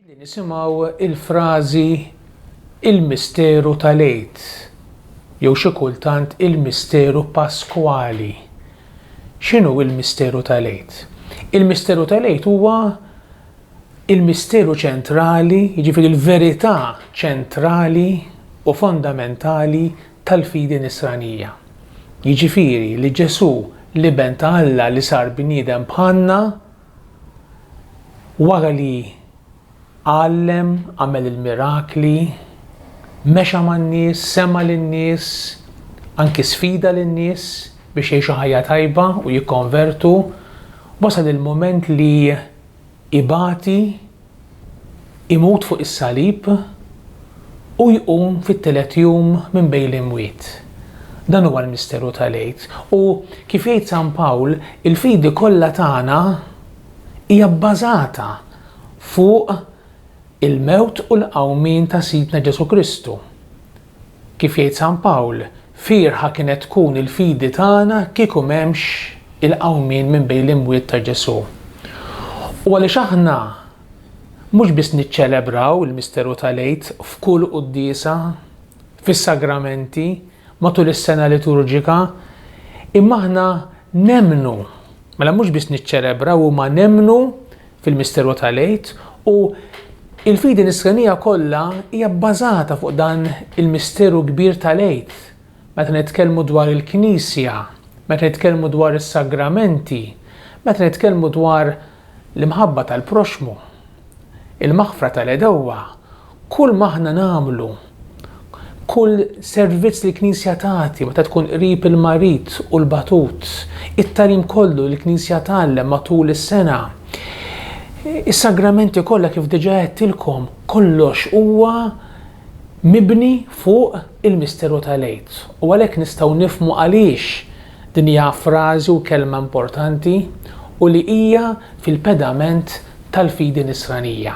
Ġieli nisimgħu l-frażi il-misteru tal-Għid jew xi kultant il-misteru Paskwali. X'inhu l-misteru tal-Għid? Il-misteru tal-Għid huwa il-misteru ċentrali, jiġifieri l-verità ċentrali u fondamentali tal-fidi Nisranija, jiġifieri li Ġesù, l-Iben ta' Alla li sar bniedem bħalna, wara li għallem, għamel il-mirakli, mexa man-nies, sema' lin-nies, anki sfida lin-nies biex jgħixu ħajja tajba u jikkonvertu, wasal il-mument li ibati, imut fuq is-salib u jqum fit-tielet jum minn bejn l-imwiet. Dan huwa l-misteru tal-Għid. U, kif jgħid San Pawl, il-fidi kollha tagħna hija bbażata fuq il-mewt u l-qawmien ta' Sidna Ġesù Kristu. Kif jgħid San Pawl, fierħa kienet tkun il-fidi tagħna kieku m'hemmx il-qawmien minn bejn l-imwiet ta' Ġesù. U għaliex aħna mhux biss niċċelebraw il-misteru tal-Għid f'kull quddiesa, fis-sagramenti, matul is-sena liturġika, imma aħna nemmnu, mela mhux biss niċċelebraw imma nemmnu fil-misteru tal-Għid u il-fidi nisranija kollha hija bbażata fuq dan il-misteru kbir tal-Għid. Meta nitkellmu dwar il-Knisja, meta nitkellmu dwar is-sagramenti, meta nitkellmu dwar l-imħabba tal-proxxmu, il-maħfra tal-għedewwa, Kull ma aħna nagħmlu, kull servizz li l-Knisja tagħti meta tkun qrib il-marid u l-batut, it-tagħlim kollu li l-Knisja tgħallem matul is-sena, is-sagramenti kollha kif diġà għedtilkom, kollox huwa mibni fuq il-misteru tal-Għid. U għalhekk nistgħu nifhmu għaliex din hija frażi u kelma importanti u li hija fil-pedament tal-fidi Nisranija.